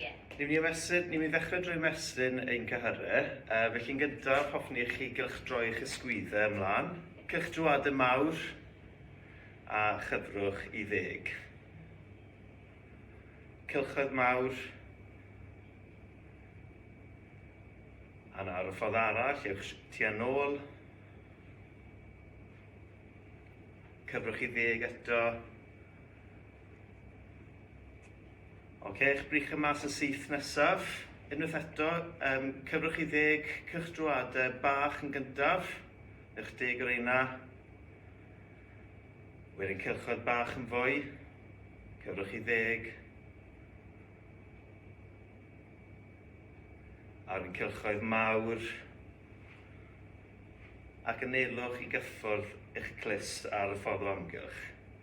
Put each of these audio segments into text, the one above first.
Cyn i ni ymestyn, ni mi ddechrau drwy ymestyn ein cyhyrau, uh, felly'n gyntaf hoffwn i chi gylch droi'ch ysgwyddau ymlaen, cylch drwad y mawr a chyfrwch i ddeg. Cylchoedd mawr a nawr y ffordd arall, ewch ti a nôl. Cyfrwch i ddeg eto. Ok, eich brych yma sy'n syth nesaf. Unwaith eto, um, cyfrwch i ddeg cych drwade bach yn gyntaf. Eich deg o reina. Wedyn cylchoedd bach yn fwy. Cyfrwch i ddeg. Ar yn cylchoedd mawr. Ac yn neilwch i gyffwrdd eich clust ar y ffordd o amgylch.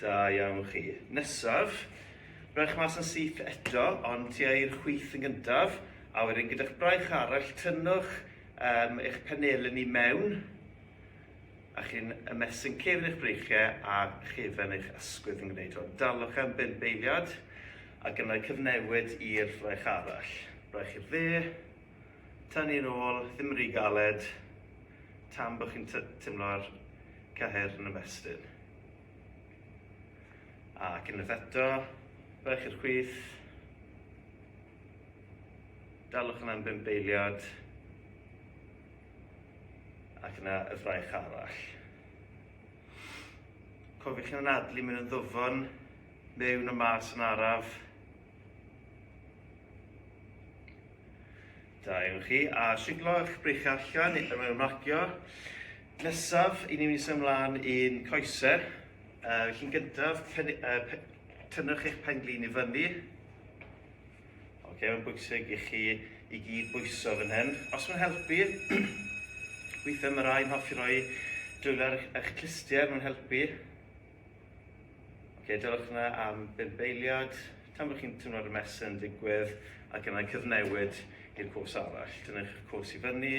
Da iawn chi. Nesaf, rhowch mas yn syth eto, ond ti i'r chwith yn gyntaf, a wedyn gyda'ch braich arall, tynnwch um, eich penelyn i mewn, a chi'n ymestyn cefn eich breichiau a chefn eich ysgwydd yn gwneud hwn. Dalwch am bum beiliad, ac yna cyfnewid i'r fraich arall. Braich i'r dde, Tan ni'n ôl, ddim rhy galed tan bod chi'n teimlo'r cyhyr yn ymestyn. Ac unwaith eto, rhaid chi'r chwith. Dalwch yna am bum beiliad. Ac yna y fraich arall. Cofiwch chi'n anadlu mewn yn ddwfwn, mewn a mas yn araf. Da iawn chi, a siglo eich brych allan mewn marcio. Nesaf, i ni'n mynd i symud ymlaen i'n coesau. Uh, chi'n gyntaf, pen, uh, pe, tynnwch eich penglin i fyny. Oce, okay, mae'n bwysig i chi i gyd bwyso fan hyn. Os mae'n helpu, weithiau mae rhai'n hoffi roi dwylo ar eich clistiau, mae'n helpu. Ok, dylwch yna am bump eiliad, tan bod chi'n teimlo'r mesur yn digwydd, ac yna'n cyfnewid i'r cwrs arall. Dynych eich cwrs i fyny,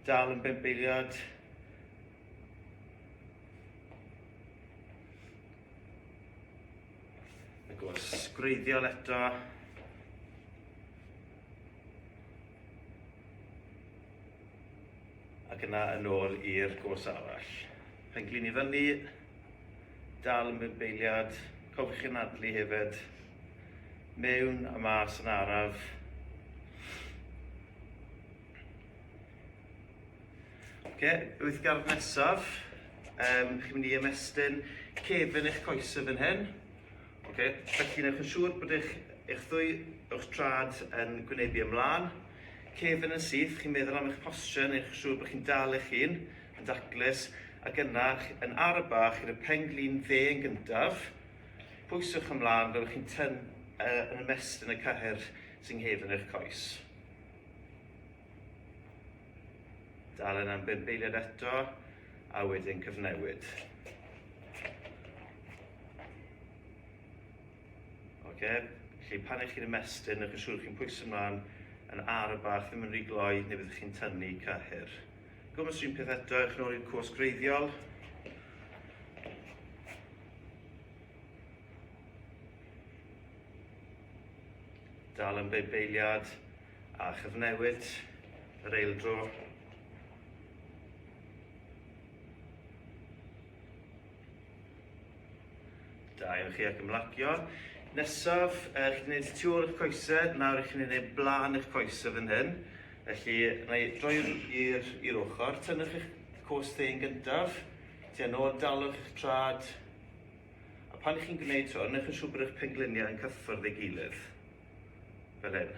dal yn bump eiliad. Y gwrs gwreiddiol eto. Ac yna yn ôl i'r gwrs arall. Penglin i fyny, dal yn bwrbeiliad, cofiwch chi anadlu hefyd, mewn a mas yn araf. Oce, wyth gardd nesaf, um, chi'n mynd i ymestyn cefn eich coesau fan hyn. Oce, felly newch yn siŵr bod eich, eich ddwy o'ch trad yn gwynebu ymlaen. Cefn yn syth, chi'n meddwl am eich posture, newch yn siŵr bod chi'n dal eich hun, y daclus, ac yna yn arf bach i'r pen-glin dde yn gyntaf, pwyswch ymlaen fel chi'n tynn uh, yn ymestyn y cyhyr sy'n nghefn eich coes. Dal yna am bum beiliad eto, a wedyn cyfnewid. Okay. Felly pan eich chi'n ymestyn, ych yn siŵr chi'n pwysau ymlaen yn ar y bach, ddim yn rhy gloi, neu byddwch chi'n tynnu cyhyr. Gwmws un peth eto, ewch nôl i'r cwrs greiddiol. Dal yn beibeiliad a chyfnewid yr eildro. Da iawn chi ac ymlacio. Nesaf, uh, chi'n gwneud tu ôl eich coesau, nawr chi'n gwneud eich blaen eich coesau fan hyn. Felly, na i droi i'r ochr, tynnwch eich cos thyn gyntaf, ti yn ôl, dalwch eich trad. A pan chi'n gwneud hwn, newch yn siŵr bod eich pengliniau yn cyffwrdd ei gilydd. Fel hyn.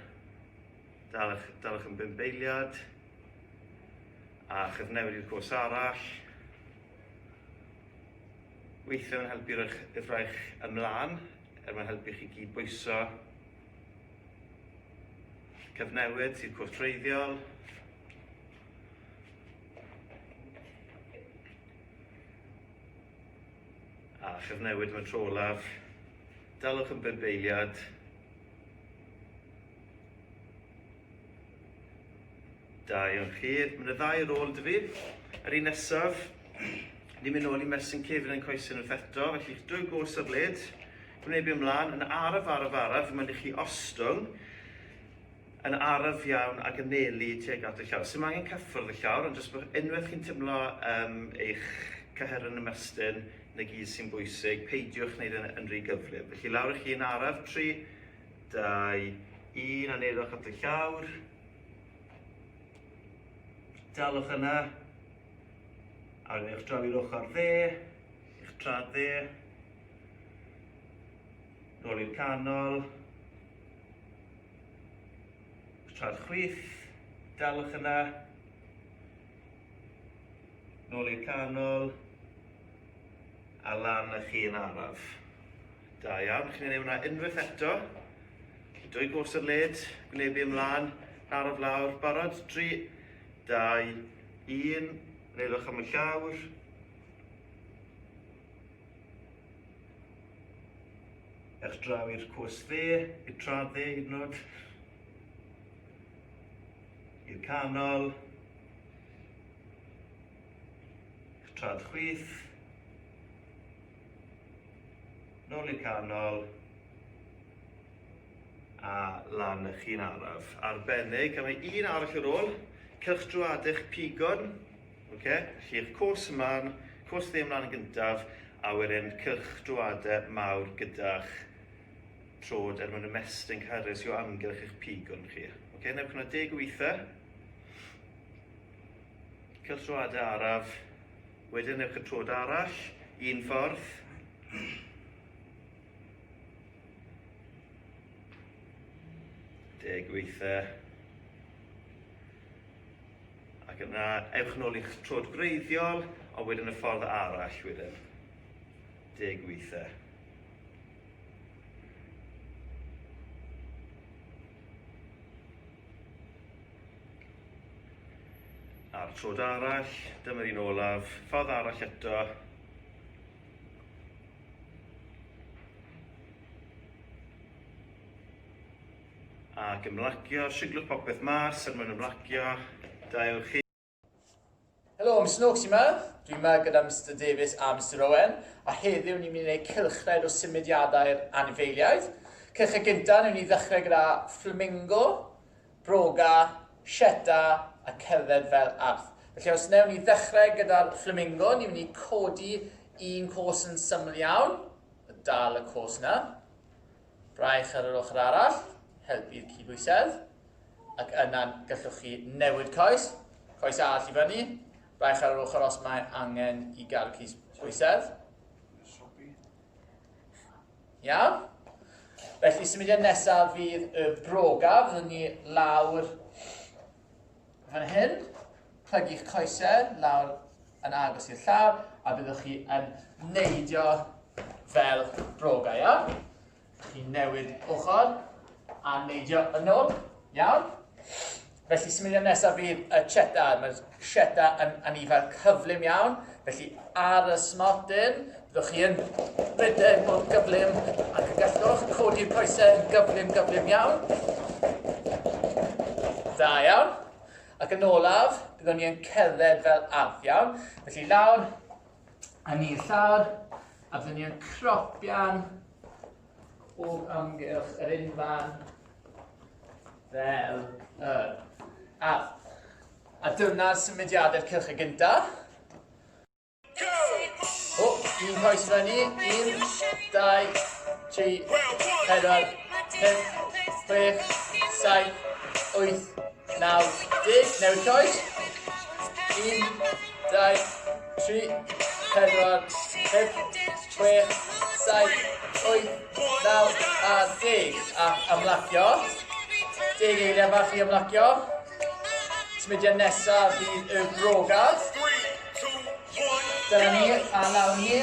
Dalwch, dalwch yn bimbeiliad. A chyfnewid i'r cos arall. Weithiau mae'n helpu rhoi'ch fraich ymlaen er mae'n helpu chi gyd bwyso. Cyfnewid sy'n cwrt treiddiol. A chyfnewid mewn tro olaf. Dalwch yn bump eiliad. Da iawn chi. Mae'n y ddau rôl yn dyfu. Yr un nesaf, ni'n mynd nôl i Mersin Cefn yn coesyn wrth eto, felly drwy gwrs ar led, gwneud byd ymlaen, yn araf, araf, araf, mae'n i chi ostwng, yn araf iawn ac yn nelu tuag at y llawr. Sy'n angen cyffwrdd y llawr, ond jyst bod unwaith chi'n teimlo um, eich cyher yn ymestyn, yn y gyd sy'n bwysig, peidiwch wneud yn, yn rhy gyflym. Felly lawr i chi yn araf, tri, Dau, un a neirwch at y llawr. Dalwch yna. A wedyn eich draw i'r ochr dde, eich trad dde. Nôl i'r canol. Eich trad chwith, dalwch yna. Nôl i'r canol. A lan â chi yn araf. Da iawn, chi'n mynd i wneud unwaith eto. Dwy gos o'r led, gwynebu ymlaen, arof lawr, barod, 3, 2, 1, neilwch am y llawr. Ers draw i'r cwrs dde, i'r trad dde hyd yn oed. I'r canol. I'r trad chwith. nôl i'r canol a lan y chi'n araf. Arbennig, a mae un arall ar ôl, cylch drwad eich pigon, okay? felly eich cwrs ymlaen, cwrs ddim ymlaen yn gyntaf, a wedyn cylch drwadau mawr gyda'ch trod er mwyn ymestyn cyrres i'w amgylch eich pigon chi. Okay? Newch yna deg o weithiau. Cylch drwadau araf, Wedyn ewch y troed arall, un ffordd. Deg weitha. Ac yna, ewch yn ôl i'ch troed greiddiol, ond wedyn y ffordd arall wedyn. Deg weitha. A'r trod arall, dyma'r un olaf, ffordd arall eto. Ac ymlacio, siglwch popeth mas er mwyn ymlacio. Da ewch chi. Helo, Mister Noakes yma. Dwi yma gyda Mister Davies a Mister Owen, a heddiw ni'n mynd i wneud cylchred o symudiadau'r anifeiliaid. Cylchred gyntaf, ni'n mynd i ddechrau gyda flamingo, broga, sieta a cerdded fel arth. Felly os newn ni ddechrau gyda'r flamingo, ni'n mynd i codi un cos yn syml iawn, a dal y cos yna. Braich ar yr ochr arall, helpu'r cydbwysedd. ac yna'n gallwch chi newid coes, coes arall i fyny, baich ar yr ochr os mae angen i gael cys bwysedd. Iawn? Felly, symudiad nesaf fydd y broga, fyddwn ni lawr fan hyn, plygu'ch coesau lawr yn agos i'r llaw, a byddwch chi yn neidio fel broga, iawn? Dych chi'n newid ochr a neidio yn ôl. Iawn? Felly symudiad nesaf fydd y cheta. Mae'r cheta yn anifail cyflym iawn. Felly ar y smotyn, byddwch chi yn rhedeg mor gyflym ac y gallwch codi'r coesau yn gyflym, gyflym iawn. Da iawn. Ac yn olaf, byddwn ni yn cerdded fel arth iawn. Felly lawr, yn ei llaw a fyny yn cropian o amgylch yr unfan fel yr ardd. A dyna symudiadau'r cylch y gyntaf. O, un coes fyny, un, dau, tri, pedwar, pum, chwech, saith, wyth, Naw, deg, newid coes. Un, dau, tri, pedwar, pump, chwech, saith, wyth, naw a deg. A ymlacio. Deg eiliad fach i ymlacio. Smidiau nesaf fydd y brogad. Dyna ni, a nawr ni.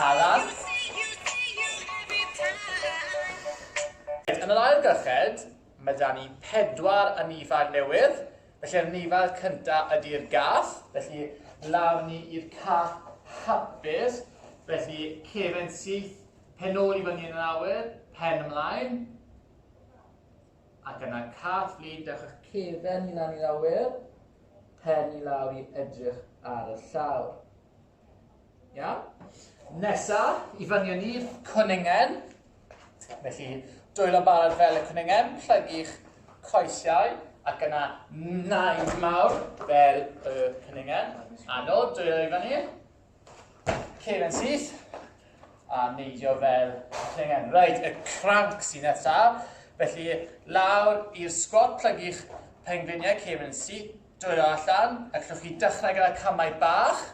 Alan. Yn yr ail gyllid, mae 'da ni pedwar anifail newydd, felly yr anifail cyntaf ydi'r gath, felly lawr ni i'r cath hapus, felly cefn syth, pen ôl i fyny yn yr awyr, pen ymlaen. Ac yna caf Lîn dewch â'ch cefen i lan i lawr wir, pen i lawr i edrych ar y llawr. Iawn? Nesa, i fyny yn i'r cwningen. Felly, dwylo barod fel y cwningen, plygu'ch coesiau, ac yna naid mawr fel y cwningen. Anol, dwylo i fyny. Ceir yn syth a neidio fel clengen. Rhaid y cranc sy'n nesaf. Felly lawr i'r sgwat plygu'ch pengliniau ceir yn syth. Dwylo allan. Allwch chi dechrau gyda camau bach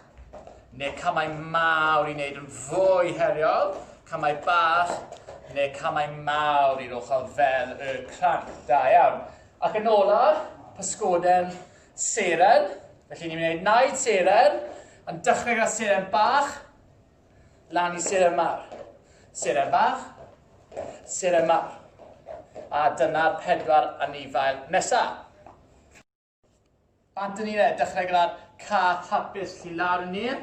neu camau mawr i wneud yn fwy heriol. Camau bach neu camau mawr i'r ochr fel y cranc. Da iawn. Ac yn olaf, pysgoden Seren, felly ni'n mynd i wneud naid seren, yn dechrau gyda seren bach, lan i seren mawr. Seren bach, seren mawr. A dyna'r pedwar anifail nesaf. Bant yn un e, dechrau gyda'r cath hapus, felly lawr yn un,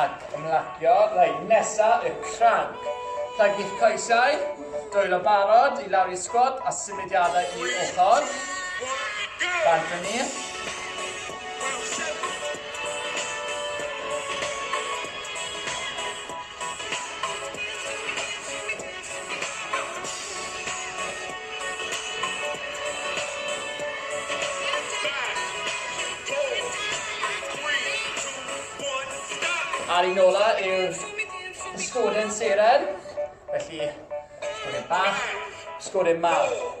Ac ymlacio lein nesa y cranc. Plagi'ch coesau, dwyllo barod i lawr i sgwat a symudiadau i ochr. Bant fyny. Ar un ola yw'r sgodyn seren, felly sgodyn bach, sgodyn mawr.